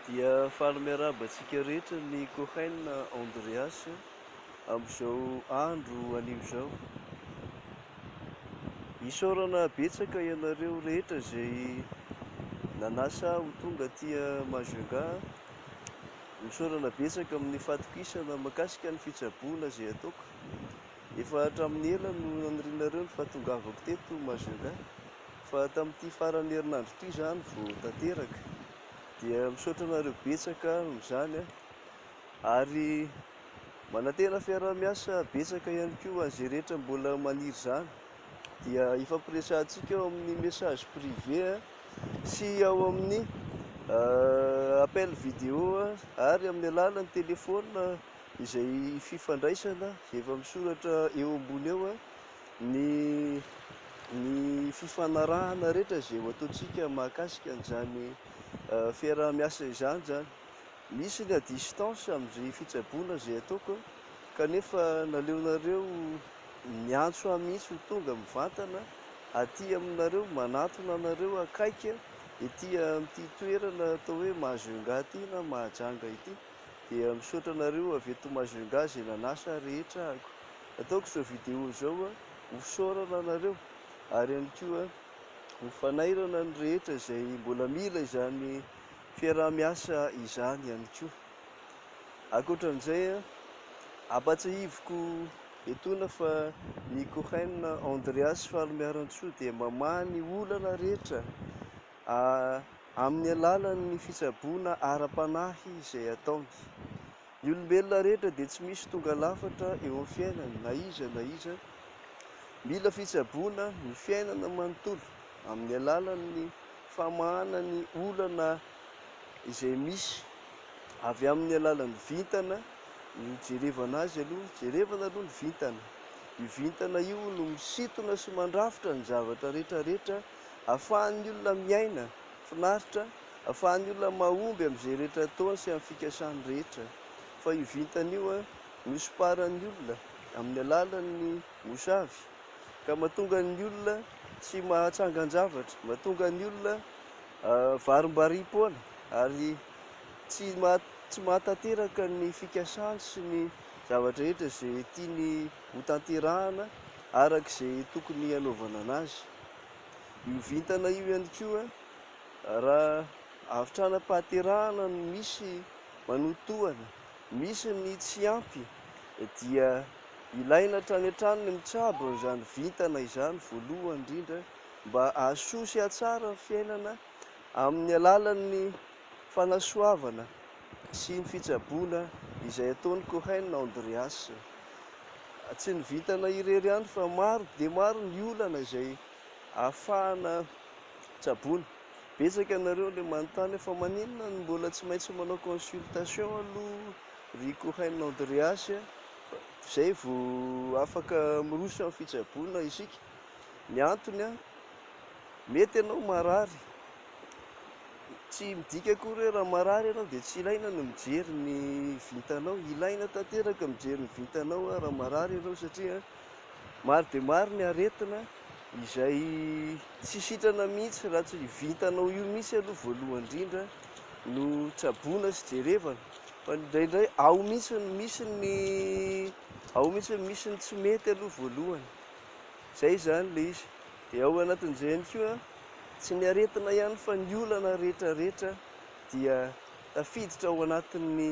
Dia faly miarahaba antsika rehetra ny Cohen Andreas amin'izao andro anio izao. Isaorana betsaka ianareo rehetra izay nanasa ahy ho tonga aty Majunga. Misaorana betsaka amin'ny fatokisana mahakasika ny fitsaboana izay ataoko. Efa hatramin'ny ela no nanirianareo ny fahatongavako teto Majunga. Fa tamin'ity faran'ny herinandro ity izany vao tanteraka. Dia misaotra anareo betsaka amin'izany ary manantena fiaraha-miasa betsaka ihany koa ho an'izay rehetra mbola maniry izany. Dia hifampiresahantsika ao amin'ny message privé sy ao amin'ny appel vidéo ary amin'ny alalan'ny telefaonina izay fifandraisana efa misoratra eo ambony eo. ny ny fifanarahana rehetra izay ho ataontsika mahakasika an'izany fiaraha-miasa izany izany. Misy ny à distance amin'izay fitsaboana izay ataoko kanefa naleonareo niantso ahy mihitsy ho tonga mivantana aty aminareo, manatona anareo akaiky ety amin'ity toerana atao hoe Majunga ity na Mahajanga ity dia misaotra anareo avy eto Majunga izay nanasa rehetra ahiko. ataoko izao vidéo izao a, ho fisaorana anareo ary ihany koa ho fanairana ny rehetra izay mbola mila izany fiaraha-miasa izany ihany koa. Ankoatran'izay a, ampatsahiviko etoana fa ny Cohen Andreas Fahalomiarantsoa dia mamaha ny olana rehetra a amin'ny alalan'ny fitsaboana ara-panahy izay ataony. Ny olombelona rehetra dia tsy misy tonga lafatra eo amin'ny fiainany na iza na iza. Mila fitsaboana ny fiainana manontolo amin'ny alalan'ny famahana ny olana izay misy avy amin'ny alalan'ny vintana no jerevana azy aloha. Jerevana aloha ny vintana. Io vintana io no misintona sy mandrafitra ny zavatra rehetra rehetra ahafahan'ny olona miaina Finaritra fa ny olona mahomby amin'izay rehetra ataony sy amin'ny fikasany rehetra. Fa io vintana io nosomparan'ny olona amin'ny alalan'ny mosavy ka mahatonga ny olona tsy mahatsangan-javatra, mahatonga ny olona varimbariam-poana ary tsy tsy mahatanteraka ny fikasany sy ny zavatra rehetra izay tiany hotanterahana araka izay tokony hanaovana anazy. Io vintana io ihany koa, raha avy tranam-pahaterahana no misy manotohana, misy ny tsy ampy, dia ilaina hatrany hatrany ny mitsabo an'izany vintana izany voalohany indrindra mba hahasoa sy hahatsara ny fiainana amin'ny alalan'ny. fanasoavana sy ny fitsaboana izay ataon'i Cohen Andreas. Tsy ny vintana irery ihany fa maro dia maro ny olana izay ahafahana tsaboina. Betsaka ianareo ilay manontany hoe fa maninona no mbola tsy maintsy manao consultation aloha ry Cohen Andreas izay vao afaka miroso amin'ny fitsaboana isika? Ny antony, mety ianao marary. Tsy midika akory hoe raha marary ianao dia tsy ilaina ny mijery ny vintanao. Ilaina tanteraka ny mijery ny vintanao raha marary ianao satria maro dia maro ny aretina izay tsy sitrana mihitsy raha tsy ny vintanao io mihitsy aloha voalohany indrindra no tsaboina sy jerevana. Fa indraindray ao mihitsy ny misy ny ao mihitsy ny misy ny tsy mety aloha voalohany. Izay izany ilay izy. Dia ao anatin'izay ihany koa Tsy ny aretina ihany fa ny olana rehetra rehetra dia tafiditra ao anatin'ny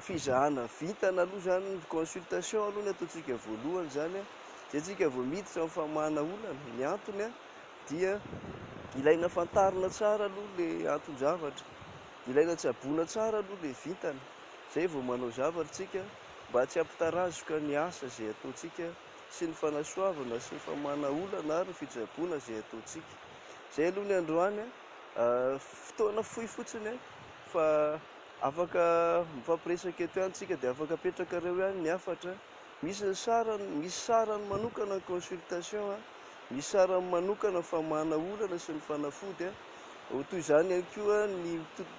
fizahana vintana aloha izany, ny consultation aloha ny ataontsika voalohany izany an, izay tsika vao miditra amin'ny famahana olana, ny antony an dia ilaina fantarina tsara aloha le anton-javatra, ilaina tsaboina tsara aloha le vintana, izay vao manao zavatra tsika mba tsy hampitarazoka ny asa izay ataontsika. sy ny fanasoavana sy ny famahana olana ary ny fitsaboana izay ataontsika. Izay aloha ny androany an! Fotoana fohy fotsiny an! Fa afaka mifampiresaka eto ihany tsika dia afaka apetrakareo ihany ny hafatra. Misy ny sarany, misy sarany manokana ny consultation an! Misy sarany manokana ny famahana olana sy ny fanafody an! Toy izany ihany koa ny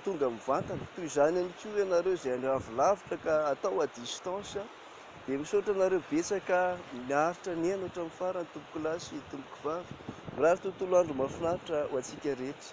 tonga mivantana. Toy izany ihany koa ianareo izay avy lavitra ka atao à distance. Dia misaotra anareo betsaka niaritra nihaino hatramin'ny farany tompokolahy sy tompokvavy. Mirary tontolo andro mahafinaritra ho antsika rehetra.